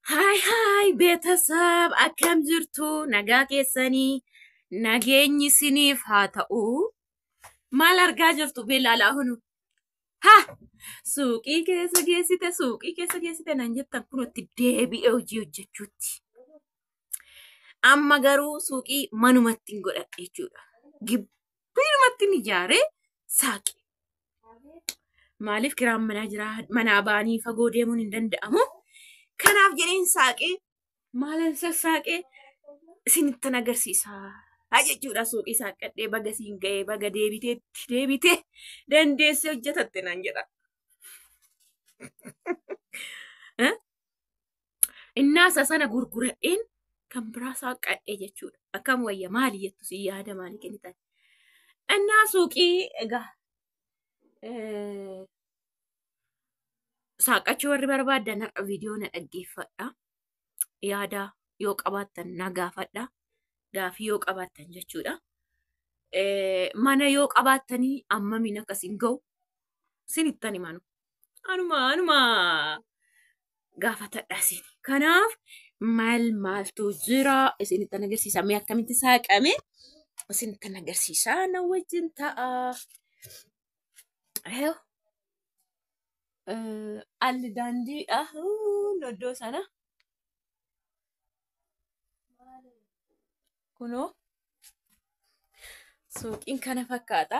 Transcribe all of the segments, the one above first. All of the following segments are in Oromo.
Haay haay beetasab akkam jirtu nagaa keessanii nageenyi siniif haa ta'u maal argaa jirtu beelaalaa hunu ha suuqii keessa geessite suuqii keessa geessite nan jettan kunutti deebi'ee hojii hojjechuutti amma garuu suuqii manumatti hin godhadhe jechuudha Biirumatti ni ijaaree saaqe. Maaliif kiraan manaa jira manaa ba'anii fagoo deemuun hin danda'amu. Kanaaf jedheen saaqe maalan sassaaqe isinittan agarsiisa. Jechuudha suuqii saaqqadhee baga siin ga'ee baga deebiteetti deebitee dandeessee hojjetatte naan jedha. Innaasa sana gurguradheen kan biraa saaqqadhe jechuudha. Akkam wayya maali jettu si yaada maali kennitan. Innaa suuqii egaa saaqqachuu warri barbaadan har'a viidiyoo na dhaggeeffadha. Yaada yoo qabaattan na gaafadha. Gaafii yoo qabaattan jechuudha. Mana yoo qabaattanii ammamiin akkasiin ga'u sinittan himanu. Anuma anuma gaafatadha isin. Kanaaf maal maaltu jira isinitti agarsiisa mee akkamitti saaqame isinitti agarsiisa na wajjin ta'a. Eew. Eh, Alli daandiidha Huun iddoo sana kunoo suuqiin kana fakkaata.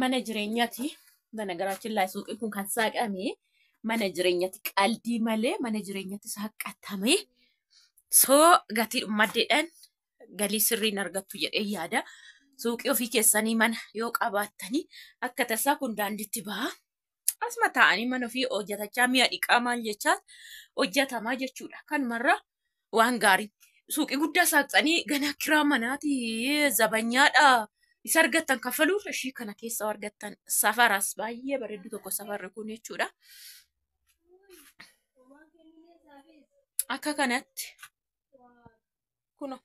mana jireenyati mana garaachiin laa suuqii kun kan saaqame mana jireenyati qaldii malee mana jireenyati saaqatame soo gatii maddeedhaan galii sirriin argattu jedhee yaada suuqii ofii keessanii mana yoo qabaattanii akka tasaa kun daanditti ba'a. asuma taa'anii mana ofii hojjetachaa mi'a dhiqaa maal jechaa hojjetamaa jechuudha. Kanumarra waan gaarii suuqii guddaa saaqxanii ganaa kiraa manaati zabanyaadha isa argattan kaffaluuf ishii kana keessa argattan safaras baay'ee bareeddu tokko safarri kun jechuudha. Akka kanatti kuno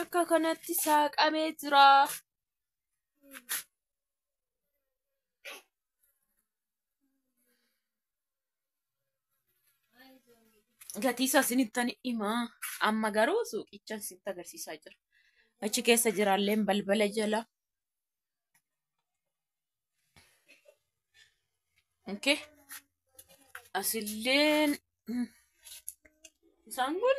akka kanatti saaqamee jira. gatii isaa isinittan himaa amma garuu suuqicha isinitti agarsiisaa jira achi keessa jiraalleen balbala jala okay. asilleen isaan kun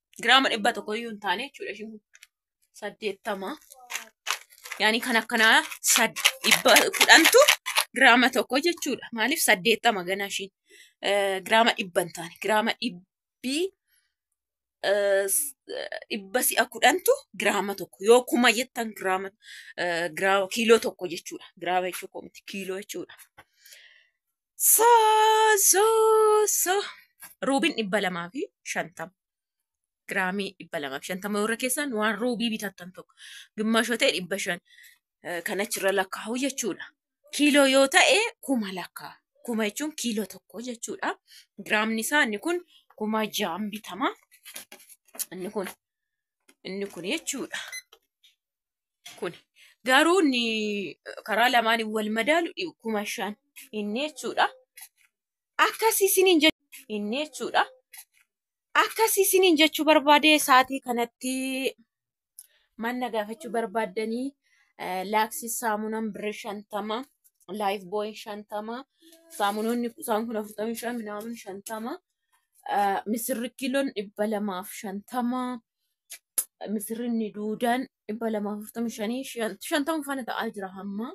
giraama dhibba tokko iyyuu hin taane jechuudha ishiin kun saddeettama yaani kan akkanaa sad dhibba kudhantu giraama tokko jechuudha maaliif saddeettama ganaa ishiin eh, giraama dhibba hin taane giraama dhibbii eh, s- eh, dhibba si'a kudhantu giraama tokko yoo kuma jettan giraama eh, giraama kiiloo tokko jechuudha giraama jechuu koo miti kiiloo jechuudha So, so, so. Ruubiin dhibba lamaa fi shantama. Giraamii dhibba lamaa fi shantama warra keessaan waan ruubii bitattan tokko. Gimmaasha yoo ta'e dhibba shan eh, kan achirra lakkaa'u jechuudha. Kiiloo yoo ta'e kuma lakkaa. Kuma jechuun kiiloo tokko jechuudha. Giraamni isaa inni kun kuma ja'an bitama. Inni kun inni kun jechuudha. Kuni garuu inni karaa lamaan wal madaalu kuma shan inni jechuudha. Akkasii isiniin jechuu inni jechuudha. Akkasii isiniin jechuu barbaadee sa'aatii kanatti manna gaafachuu barbaaddanii laaksii saamunaan birri shantama laayif booyin shantama saamunoonni isaan kun afurtamii shan minaamin shantama misirri kiiloon dhibba lamaaf shantama misirrinni duudaan dhibba lamaa fi afurtamii shanii shantama faana ta'aa jira hamma.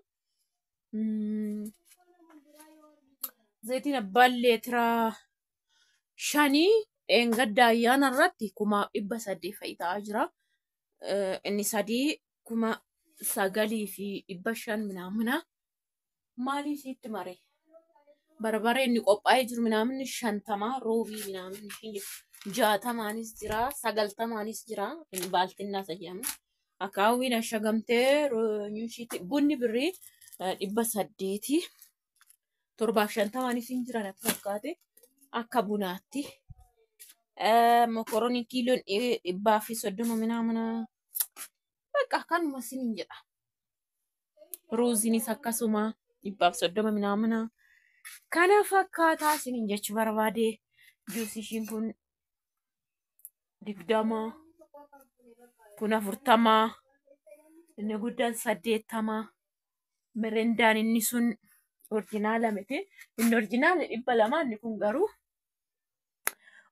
Zayitiin abbaan leetiraa shanii dheengadda ayyaana irratti kumaaf dhibba sadii fa'i ta'aa jira. Inni sadii kuma sagalii fi dhibba shan minaamina. maalii siitti maree barbaree inni qophaa'ee jiru minaaminni shantamaa roobii minaaminni kiyya jaatamaanis jira sagaltamaanis jira inni baaltinnaa isa jedhamu akaawwiin ashagamtee nyuushiitti bunni birrii eh, dhibba saddeetii torbaaf shantamaanis hin jiran akka fakkaate akka bunaatti eh, mokoroonii kiiloon dhi- dhibbaa fi soddoma minaamina bakka akkanuma sin hin jedha ruuzinis akkasuma dhibbaaf soddoma minaamina kana fakkaataa isiniin jechuu barbaade juus ishiin kun digdama kun afurtama inni guddaan saddeettama mirindaan inni sun orjinaala miti inni orjinaala dhibba lama inni kun garuu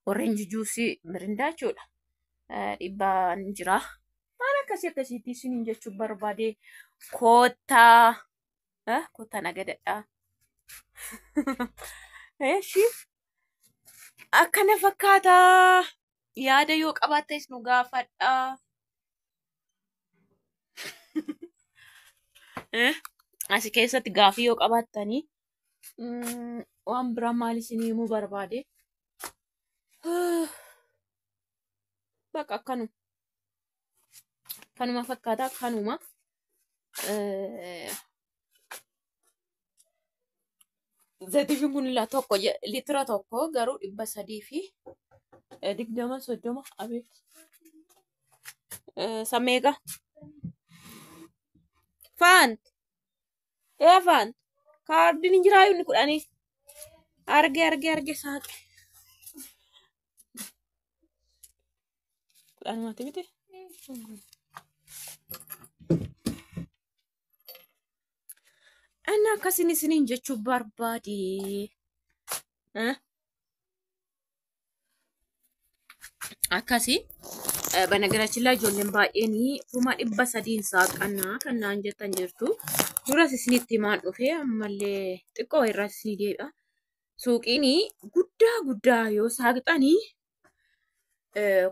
Orange juice mirindaa jechuudha. Dhibbaan jira. Waan akkasii akkasiitti isiniin jechuu barbaade koottaa koottaa nagadadhaa. Eshi akkana fakkaata yaada yoo qabaattes nu gaafadha. Asi keessatti gaafii yoo qabaattanii Mm, waan biraa maal isin himuu barbaade baqa kanuma kanuma fakkaata kanuma Eh, zayitiifiin kun ilaa tokko je- litira tokko garuu dhibba sadii fi eh, digdama soddoma abeet Eh, sameega faan Eefaan kaardiin hin jiraa inni kudhanii. Arge arge arge saaqe. Kudhan mati miti. Inni akkasin isiniin jechuu barbaade. Eh? akkasi banagaraachillaa ijoolleen baay'een kuma dhibba sadiin saaqannaa kan naan jettan jirtu duras isinitti himaan dhufe ammallee xiqqoo irraa isinii deebi'a suuqiin guddaa guddaa yoo saaqxanii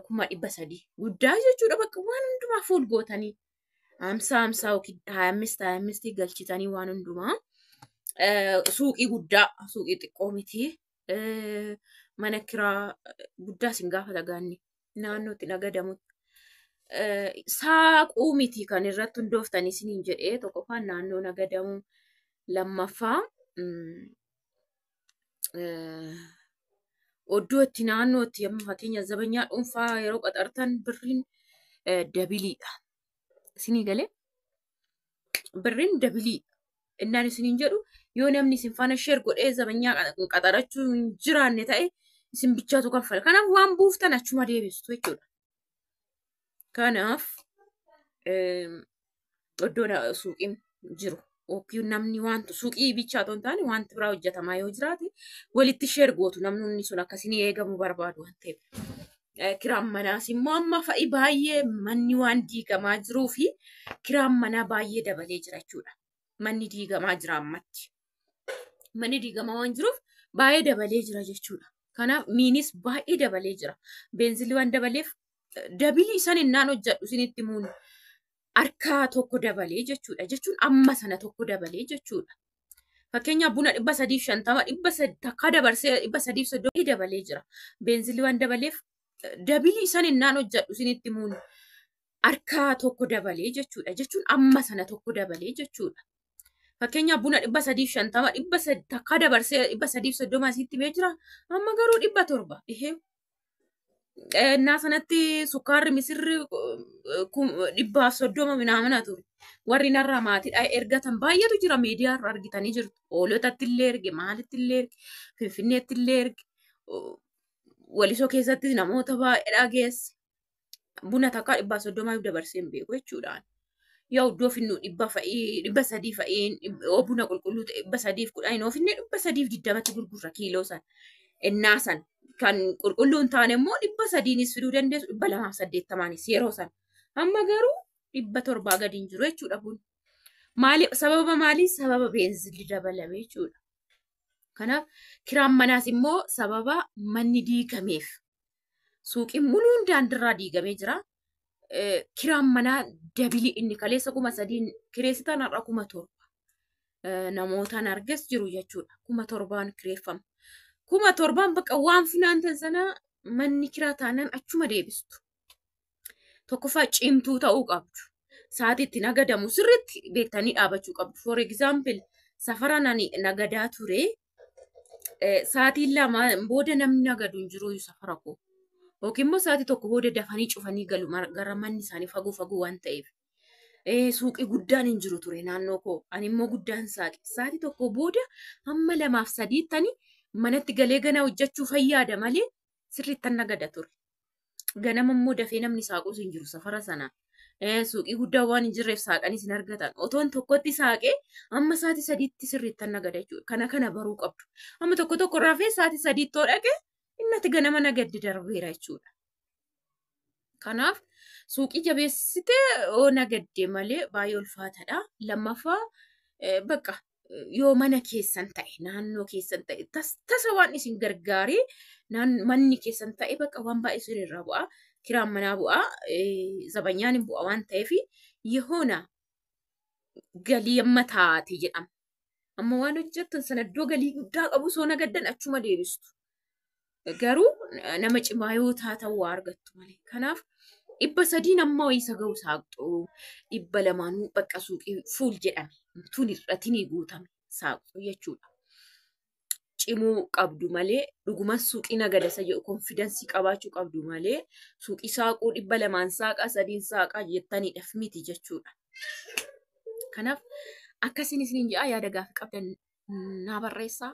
kuma dhibba sadii guddaa jechuudha bakka waan hundumaa fuul gootanii hamsaa hamsaa yookiin haayammisti haayammisti galchitanii waan hundumaa suuqii guddaa suuqii xiqqoo mitii eh, mana kiraa eh, guddaa isin gaafata gaanni naannootti nagadamutti. Eh, saaquu miti kan irratti hundooftan isiniin jedhee tokkoffaan naannoo nagadamuu lammaffaa mm, eh, oddoo itti naannoo itti amma fakkeenya zabanyaa dhuunfaa yeroo qaxartan birriin eh, dabiliidha. Isinii galee birriin dabiliidha. Innaan isiniin jedhu yoo namni isin faana sheer godhee zabanyaa qaxarachuu hin jiraanne ta'e isin bichaatu kaffala. Kanaaf waan buuftan achuma deebistu jechuudha. Kanaaf iddoon suuqiin jiru yookiin namni wanti suuqii bichaa otoo hin taane wanti biraa hojjetamaa yoo jiraate walitti sheer gootu namni sun akkasiin eegamu barbaadu waan ta'eef. kiraan manaas immoo amma fa'i baay'ee manni waan diigamaa jiruu fi kiraan manaa baay'ee dabalee jira jechuudha. Manni diigamaa jira ammatti. Manni diigamaa waan jiruuf baay'ee dabalee jira jechuudha. Kanaaf miinis baay'ee dabalee jira. Beenzilli waan dabaleef dabilii san innaan hojjedhu isinitti muun harka tokko dabalee jechuudha. Jechuun amma sana tokko dabalee jechuudha. Fakkeenyaaf buna dhibba sadiif shantama dhibba takka dabarsee dhibba sadiif soddomii dabalee jira. Beenzilii waan dabaleef dabilii san innaan hojjedhu isinitti muun harka tokko dabalee jechuudha. Jechuun amma sana tokko dabalee jechuudha. Fakkeenyaaf buna dhibba sadiif shantama dhibba takka dabarsee dhibba sadiif soddoma asitti mee jira. Amma garuu dhibba torba. Ihee Innaa sanatti sukkaarri misirri dhibbaaf soddoma minaamina ture. Warri narraa maatiidha ergatan baay'eetu jira miidiyaa irra argitanii jirtu. Hoolotatti illee erge, maalitti illee erge, finfinneetti illee erge. Walisoo keessatti namoota baay'eedha geesse. buna takkaa dhibbaa soddomaaf dabarsee hin beeku jechuudhaan. Yoo iddoo finnu dhibba fa'ii dhibba sadii fa'iin yoo buna qulqulluu ta'e dhibba sadiif kudhan yoo finne dhibba sadiif digdamatti gurgurra kiiloo san ennaa san kan qulqulluu hin taane immoo dhibba sadiinis fiduu dandeessu dhibba lamaaf saddeettamaanis yeroo san amma garuu dhibba torbaa gadi hin jiru jechuudha buna. Maali sababa maalii sababa beenzilli dabalame jechuudha. Kanaaf kiraan manaas immoo sababa manni diigameef Suuqiin muluun daandirraa diigamee jira. Kiraan manaa dabilii inni kaleessa kuma sadiin kireessitan har'a kuma torba. Namootaan arges jiru jechuudha. Kuma torbaan kireeffama. Kuma torbaan bakka waan funaantan sana manni kiraa taanaan achuma deebistu. tokkoffaa cimtuu ta'uu qabdu. Sa'aatii itti nagadamu sirriitti beektanii dhaabachuu qabdu. For example, safara nani nagadaa ture. eh, Sa'aatiin lama booda namni nagadu hin jiru safara koo. Yookiin immoo sa'aatii tokko booda dafanii cufanii galu mar- gara manni isaanii fagoo fagoo waan ta'eef. Eh, Suuqii guddaan hin jiru ture naannoo koo. Ani immoo guddaan saaqe. Sa'aatii tokko booda hamma lamaaf sadiittani manatti galee ganaa hojjechuu fayyaada malee sirriittan nagada ture. Ganama immoo dafee namni saaqus hin jiru safara sana. Eh, Suuqii guddaa waan hin jirreef saaqanii sin argatan. Otoon tokkotti saaqee amma sa'aatii sadiitti sirriittan nagada jechuudha. Kana kana baruu qabdu. Amma tokko tokko rafee sa'aatii sadiitti yoo dhaqe innati ganama nagaddi darbeera jechuudha. Kanaaf suuqii jabeessitee yoo nagadde malee baay'ee ulfaataadha. Lammaffaa eh, bakka yoo mana keessan ta'e naannoo keessan ta'e tas- tasa waan isin gargaaree naan- manni keessan ta'e bakka waan baay'ee isin irraa bu'a kiraan manaa bu'a eh, zabanyaan hin bu'a waan ta'eef yehoona galii amma taate jedhama. Amma waan hojjettan sana iddoo galii guddaa qabu osoo nagaddan achuma deebistu. garuu nama cimaa yoo taatan waa argattu malee. Kanaaf dhibba sadiin amma wayii isa ga'u saaqxuu dhibba lamaan bakka suuqii fuul jedhame tun irratiin guutame saaqxuu jechuudha. Cimuu qabdu malee dhuguman suuqii nagadasa jedhu konfidansii qabaachuu qabdu malee suuqii saaquu dhibba lamaan saaqaa sadiin saaqaa jettaniidhaaf miti jechuudha. Kanaaf akkasiin isiniin jedha yaada gaaffii qabdan naa barreessaa.